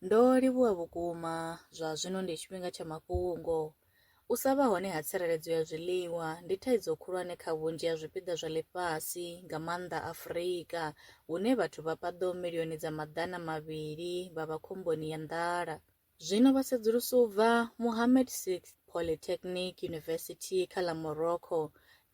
Ndo livhuwa vhukuma, zwa zwino ndi tshifhinga tsha mafhungo. U sa vha hone ha tsireledzo ya zwiḽiwa ndi thaidzo khulwane kha vhunzhi ha zwipiḓa zwa ḽifhasi, nga maanḓa Afrika, hune vhathu vha paḓaho milioni dza maḓana mavhili vha vha khomboni ya nḓala. Zwino vhasedzulusi u bva Mohammed VI Polytechnic University kha ḽa Morocco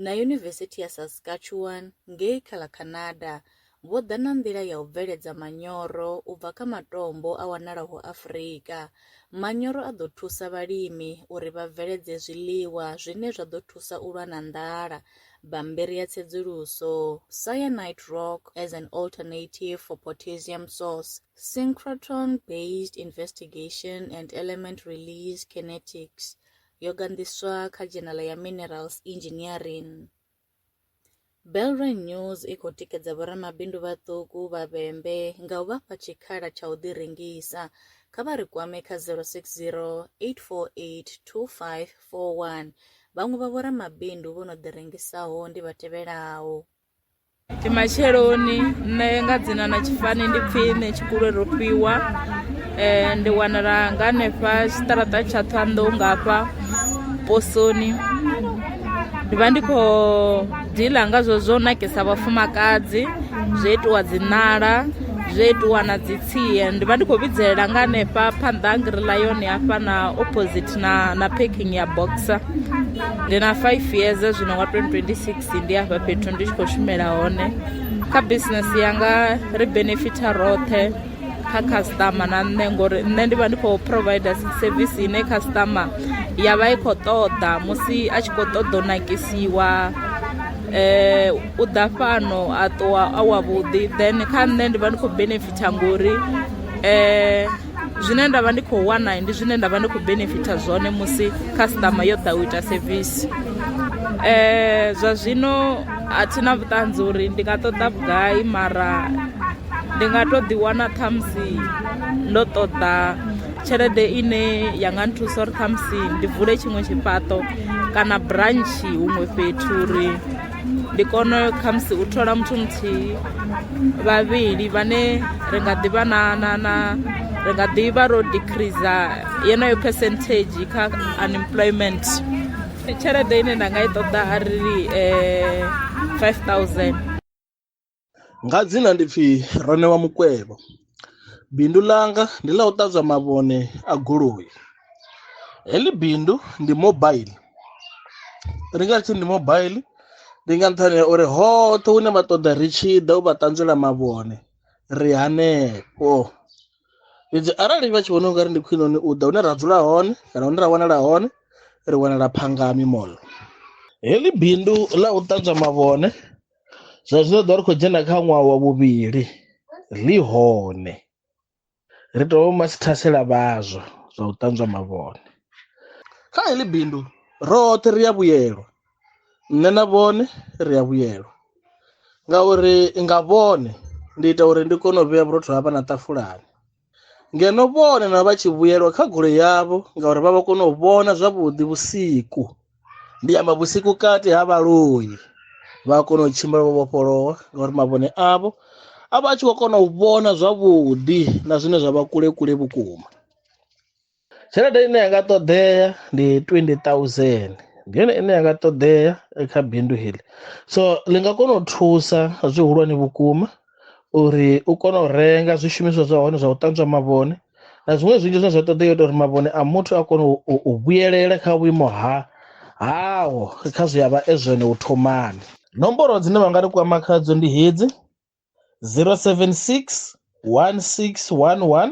na Yunivesithi ya Saskatchewan ngei kha ḽa Canada vho ḓa na nḓila ya u bveledza manyoro u bva kha matombo a wanalaho Afrika. Manyoro a ḓo thusa vhalimi uri vha bveledze zwiḽiwa zwine zwa ḓo thusa u lwa na nḓala. Bammbiri ya tsedzuluso, Cyanide rock as an alternative for potassium source, Synchrotron-based investigation and element release kinetics, yo ganḓiswa kha dzhenala ya Minerals Engineering. Belron News i khou tikedza vhoramabindu vhaṱuku vha vhembe nga u vha fha tshikhala tsha u ḓirengisa. Kha vha ri kwame kha 060 848 2541. Vhaṅwe vha vhoramabindu vho no ḓirengisaho ndi vha tevhelaho. Ndi matsheloni nṋe nga dzina na tshifani ndi pfhi nṋe tshikule ro fhiwa eh, ndi wanala nga hanefha tshiṱaraṱa tsha ṱhoanḓou ngafha posoni ndi vha ndi khou diḽa nga zwo zwo nakisa vhafumakadzi zwo itiwa dzi ṋala zwo itiwa na dzi tsie ndi vha ndi khou vhidzelela nga hanefha phanḓa ha ngirila yone hafha na opposite na na packing ya boxer ndi na five years zwino nga 2026 ndi hafha fhethu ndi tshi khou shumela hone kha business yanga ri benefitha roṱhe kha customer na nṋe ngori nṋe ndi vha ndi khou provider service ine customer ya vha i khou ṱoḓa musi a tshi khou ṱoḓa u nakisiwa eh u ḓa fhano a ṱuwa a wa vhuḓi then kha nṋe ndi vha ndi khou benefita ngori eh zwine nda vha ndi khou wana ndi zwine nda vha ndi khou benefita zwone musi customer yo ḓa u ita service eh zwa zwino a thina vhuṱanzi uri ndi nga ṱoḓa vhugai mara ndi nga to ḓi wana ṱhamusi ndo ṱoḓa tshelede ine ya nga nthusa uri ṱhamusi ndi vule tshiṅwe tshifhaṱo kana branchi huṅwe fhethu uri ndi kone khamusi u thola muthu muthihi vhavhili vhane ri nga ḓivha na na na ri nga ḓivha ro decreasa yeneyo percentage kha unemployment tshelede ine nda nga i ṱoḓa a ri um eh, 5000 nga dzina ndi pfi ronewa mukwevho bindu ḽanga ndi ḽa u ṱanzwa mavhone a goloi heḽi bindu ndi mobile ri nga tshi ndi mobile ndi nga nṱhani ha uri hoṱhe hune vha ṱoḓa ri tshi ḓa u vha ṱanzwela mavhone ri hanefho fhedzi arali vha tshi vhona ungari ndi khwine hone u ḓa hune ra dzula hone kana hune ra wanala hone ri wanala phangami mall heḽi bindu ḽa u ṱanzwa mavhone zwa zwino ḓo ri khou dzhena kha ṅwaha wa vhuvhili ḽi hone ri tou vha masithasela vhazwa zwa u ṱanzwa mavhone kha heḽi bindu roṱhe ri a vhuyelwa nṋe na vhone ri a vhuyelwa ngauri nga vhone ndi ita uri ndi kone u vhea vhurotho ha vha na ṱafulani ngeno vhone na vha tshi vhuyelwa kha goloi yavho ngauri vha vha kona u vhona zwavhuḓi vhusiku ndi amba vhusiku kati ha vhaloi vha a kona u tshimbila vho vhofholowa ngauri mavhone avho a vha a tshi khou kona u vhona zwavhuḓi na zwine zwa vha kule kule vhukuma tshelede ine ya nga ṱoḓea ndi 20000 ndi yone ine ya nga ṱoḓea kha bindu heḽi so ḽi nga kona u thusa zwihulwane vhukuma uri u kone u renga zwishumiswa zwa hone zwa u ṱanzwa mavhone na zwiṅwe zwinzhi zwine zwa ṱoḓea ita uri mavhone a muthu a kone u vhuyelela kha vhuimo ha haho kha zwi a vha e zwone u thomani nomboro dzine vha nga ri kwama khadzo ndi hedzi 076 1611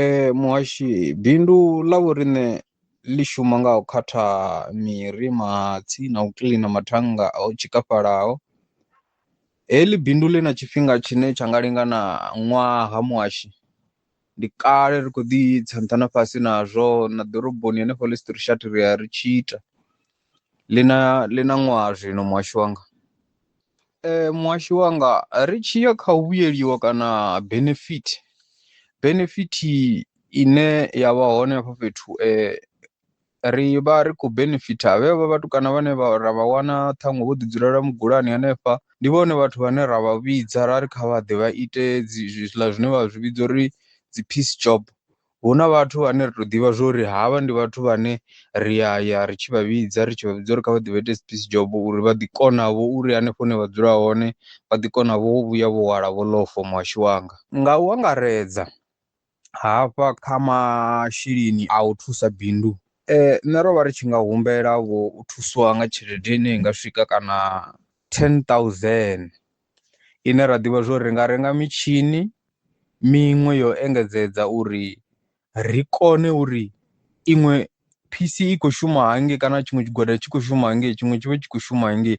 Ee, muhashi bindu ḽa vhoriṋe ḽi shuma nga u khatha miri, mahatsi na u kiḽina mathannga o tshikafhalaho. Heḽi bindu ḽi na tshifhinga tshine tsha nga lingana ṅwaha muhashi, ndi kale ri khou ḓi tsa nṱha na fhasi nazwo na ḓoroboni hanefho Louis Trichardt ri ya ri tshi ita ḽi na ḽi na ṅwaha zwino muhasho wanga, muhasho wanga ri tshi ya kha u vhuyeliwa kana benefit, benefit ine ya vha hone hafho fhethu ri vha ri khou benefitha vhe vha vhatukana vhane vha ra vha wana ṱhaṅwe vho ḓi dzulela mugulani hanefha, ndi vhone vhathu vhane ra vha vhidza ra ri kha vha ḓe vha ite dzi zwiḽa zwine vha zwi vhidza uri dzi peace job hu na vhathu vhane ri to ḓivha zwori havha ndi vhathu vhane ri ya ya ri tshi vha vhidza ri tshi vha vhudza uri kha vha ḓi vha ite space job uri vha ḓi kona vho uri hanefho hune vha dzula hone vha ḓi kona vho vhuya vho hwala vho lofo muhasho wanga. Nga u angaredza hafha kha masheleni a u thusa bindu nṋe ro vha ri tshi nga humbela vho u thusiwa nga tshelede ine i nga swika kana ten thousand. ine ra ḓivha zwa uri ri nga renga mitshini miṅwe yo engedzedza uri ri kone uri iṅwe phisi i khou shuma hangei kana tshiṅwe tshigwada tshi khou shuma hangei tshiṅwe tshi vha tshi khou shuma hangei,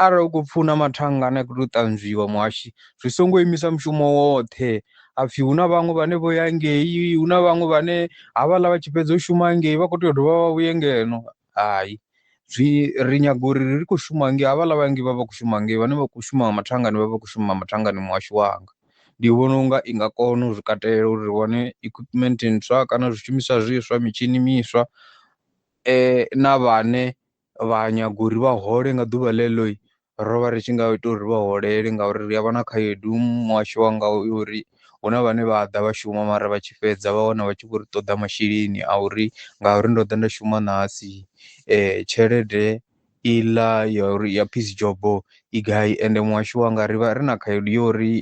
arali u khou pfhi hu na mathannga ane a khou tea u ṱanzwiwa muhashi zwi songo imisa mushumo woṱhe ha pfhi hu na vhaṅwe vhane vho ya ngei, hu na vhaṅwe vhane havhaḽa vha tshi fhedza u shuma hangei vha khou tea u dovha vha vhuye ngeno. hai zwi ri nyaga uri ri khou shuma ngei havhaḽa vhanzhi vha vha khou shuma ngei vhane vha khou shuma mathangani vha vha khou shuma mathangani muhasho wanga, ndi vhona unga i nga kona u zwi katela uri ri wane equipment ntswa kana zwishumiswa zwiswa mitshini miswa na vhane vha nyaga uri vha hole nga ḓuvha ḽeḽo ro vha ri tshi nga ita uri vha holele ngauri ri a vha na khaedu muhasho wa nga u uri hu na vhane vha ḓa vha shuma mara vha tshi fhedza vha wana vha tshi vho ri ṱoḓa masheleni a uri ngauri ndo ḓa nda shuma ṋahasi tshelede i ḽa ya uri ya peace job i gai ende muhasho wa nga ri vha ri na khaedu ya uri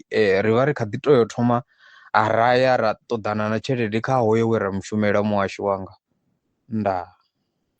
ri vha ri kha ḓi tou thoma a ra ya ra ṱoḓana na tshelede kha hoyo we ra mu shumela muhasho wanga. Ndaa.